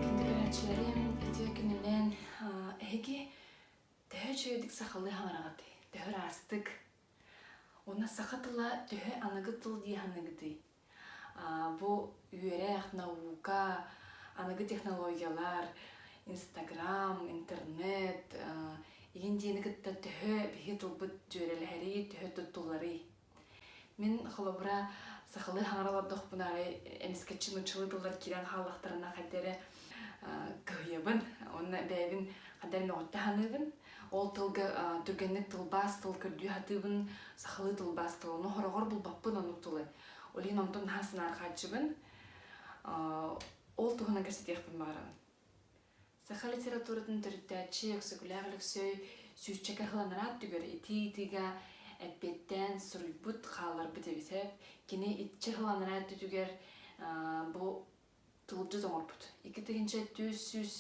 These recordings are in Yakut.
Күндүлээччилэрим, итиэ күнүнэн эһиги төһө үчүгэйдик сахалыы хаҥараҕыт, төһө ыраастык, уонна саха тыла төһө аныгы тыл дии аныгытый? Бу үөрэх, наука, аныгы технологиялар, Инстаграм, интернет, игин диэни кытта төһө биһи тылбыт дьүөрэлэһэрий, төһө туттулларый? Мин холобура сахалыы хаҥара олордохпуна арай эмискэччи нуччалыы тыллар киирэн хааллахтарына хайда эрэ кыһыйабын уонна бэйэбин хайда эрэ мөҕүттэ саныыбын ол тылга түргэнник тылбаас тыл көрдүү сатыыбын сахалыы тылбаас тыл ону хороҕор булбаппын оннук тылы олин онтон наһаа санаарҕааччыбын ол туһунан кэпсэтиэхпин баҕарабын Саха литературатын төрүттээччи Өксөкүлээх Өлөксөй сүүсчэкэ ыланараа түгэр итии-итиигэ эппиэттээн суруйбут, хаалларбыт эбитэ. Кини иччи ыланараа өттүтүгэр бу тылдьыт оҥорбут. Икки тыһыынча түс сүүс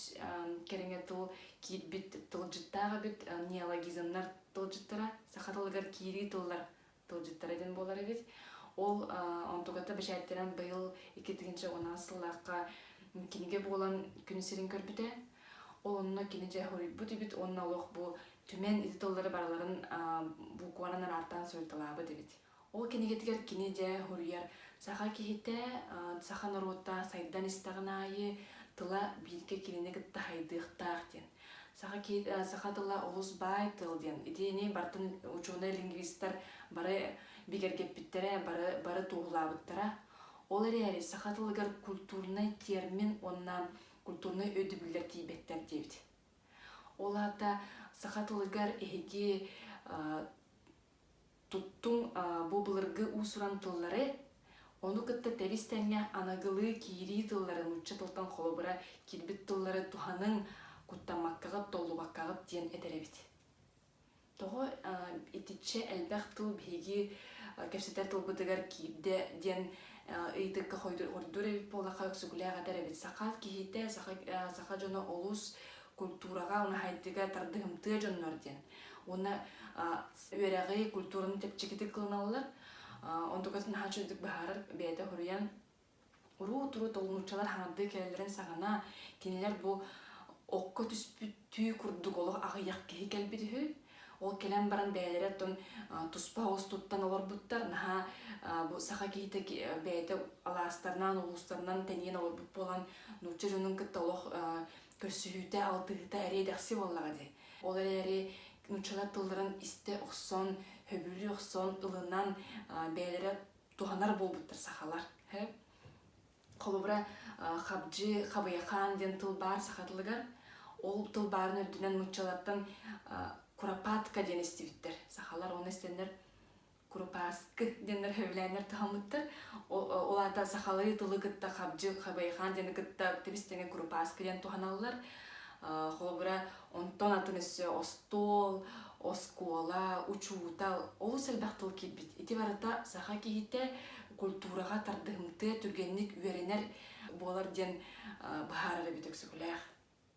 кэриҥэ тыл киирбит тылдьыттаах эбит. Неологизмнар тылдьыттара саха тылыгар киирии тыллар тылдьыттара дин буолар эбит. Ол онтугата бэчээттэрэн быйыл икки тыгынча уонаас сыллаахха кинигэ буолан күн сирин көрбүтэ. Ол онно кини дьэ хоруйбут үбүт уонна олох бу түмэн ити тыллары барыларын букванан араартаан суруйталаабыт эбит. Ол кинигэтигэр кини дьэ хоруйар саха киһитэ, саха норуота сайдан истэҕин аайы тыла бииргэ кинини кытта хайдыахтаах диэн. Саха, саха тыла олус баай тыл диэн. Итини бартын учуонай-лингвистар бары бигэргэппиттэрэ, бары, бары туоһулаабыттара. Ол эрээри саха тылыгар культурнай термин уонна культурнай өйдөбүллэр тиийбэттэр диэбит. Ол аата саха тылыгар эһиги Туттуҥ бу былыргы уусуран тыллары, ону кытта тэбис-тэҥҥэ аныгылыы киирии тыллары нуучча тылтан холобура киирбит тыллары туһаныҥ, куттаммаккаҕыт, толлубаккаҕыт диэн этэрэбит. Тоҕо итиччэ элбэх тыл биһиги кэпсэтэр тылбытыгар киирдэ диэн ыйытыкка хордуур эбит буоллахха өксүкүлээх этэр эбит саха киһитэ саха дьоно олус культураҕа наһайдыга тардыһымтыа дьоннор диэн уонна үөрэҕи, культураны чэпчэкитик кылыналлар. Онтукатын наһаа чөлдүк быһаарар, бэйэтэ хоруйан уруу-туруу толунууччалар хаҥардыы кэлэллэрин саҕана, кинилэр бу окко түспүттүү курдук олох аҕыйах киһи кэлбит үһү. Ол кэлэн баран бэйэлэрэ оттон туспа оҕус туттан олорбуттар. Наһаа бу саха киһитэ бэйэтэ алаастарнаан, улуустарынан тэнийэн олорбут буолан, нуучча дьонун кытта олох көрсүһүүтэ, алтыһыыта эриэ дэхси буоллаҕа дии. Ол эрээри нууччалар тылларын истэ охсон хөбүлүү охсон ылынан бэйэлэрэ туһанар буолбуттар сахалар холобура хабдьы хабыйахаан диэн тыл баар саха тылыгар ол тыл баарын үрдүнэн нууччалартан курапатка диэн истибиттэр сахалар ону истэннэр Курупаарскы диэн рөһүлээннэр таһаммыттар. Ол аата сахалыы тылы кытта хабдьы хабайхаан диэни кытта тэбис-тэҥэ курупааскы диэн туһаналлар. Холобура, онтон атын өссө остуол, оскуола, учуутал олус элбэх тыл киирбит. Ити барыта саха киһитэ культураҕа тардыһымтыа, түргэнник үөрэнэр буолар диэн быһаарар эбит Өксөкүлээх.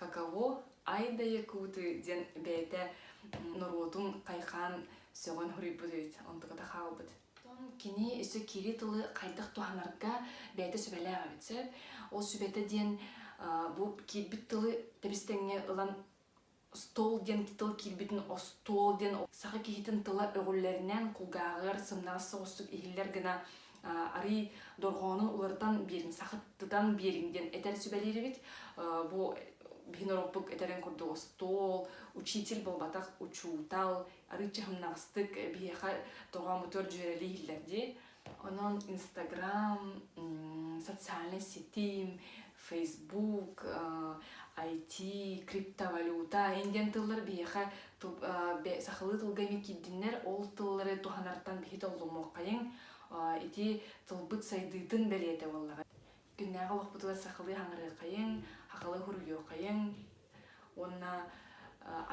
каково айдае куты диэн бэйэтэ норуотун хайхаан сөҕөн хуруйбут үһүт онтуката хаалбыт кини өссө киирии тылы хайдах туһанарга бэйэтэ сүбэлээх эбит сөп ол сүбэтэ диэн бу киирбит тылы тэбистэҥҥэ ылан стол диэн тыл киирбитин остуол диэн саха киһитин тыла өҕүллэринэн кулгааҕар сымнаҕас соҕустук иһиллэр гына арыый дорҕоону уларытан биэриҥ сахытытан биэриҥ диэн этэр сүбэлиирибит бу биһин ороппук этэрин курдук остуол учитель буолбатах учуутал арыычча хымнаҕастык биһиэхэ тоҕоомутугар дьүөрэлии иһиллэр дии онон инстаграм социальнай ситим Facebook, IT, криптовалюта эн диэн тыллар биһиэхэ сахалыы тылга эбии киирдиннэр ол тыллары туһанартан биһи толлумуоххайыҥ ити тылбыт сайдыытын бэлиэтэ буоллаҕа күннээҕи олохпутугар сахалыы хаҥарыаххайыҥ хахалыы хуруйуоххайыҥ уонна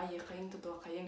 айыаххайыҥ тутуоххайыҥ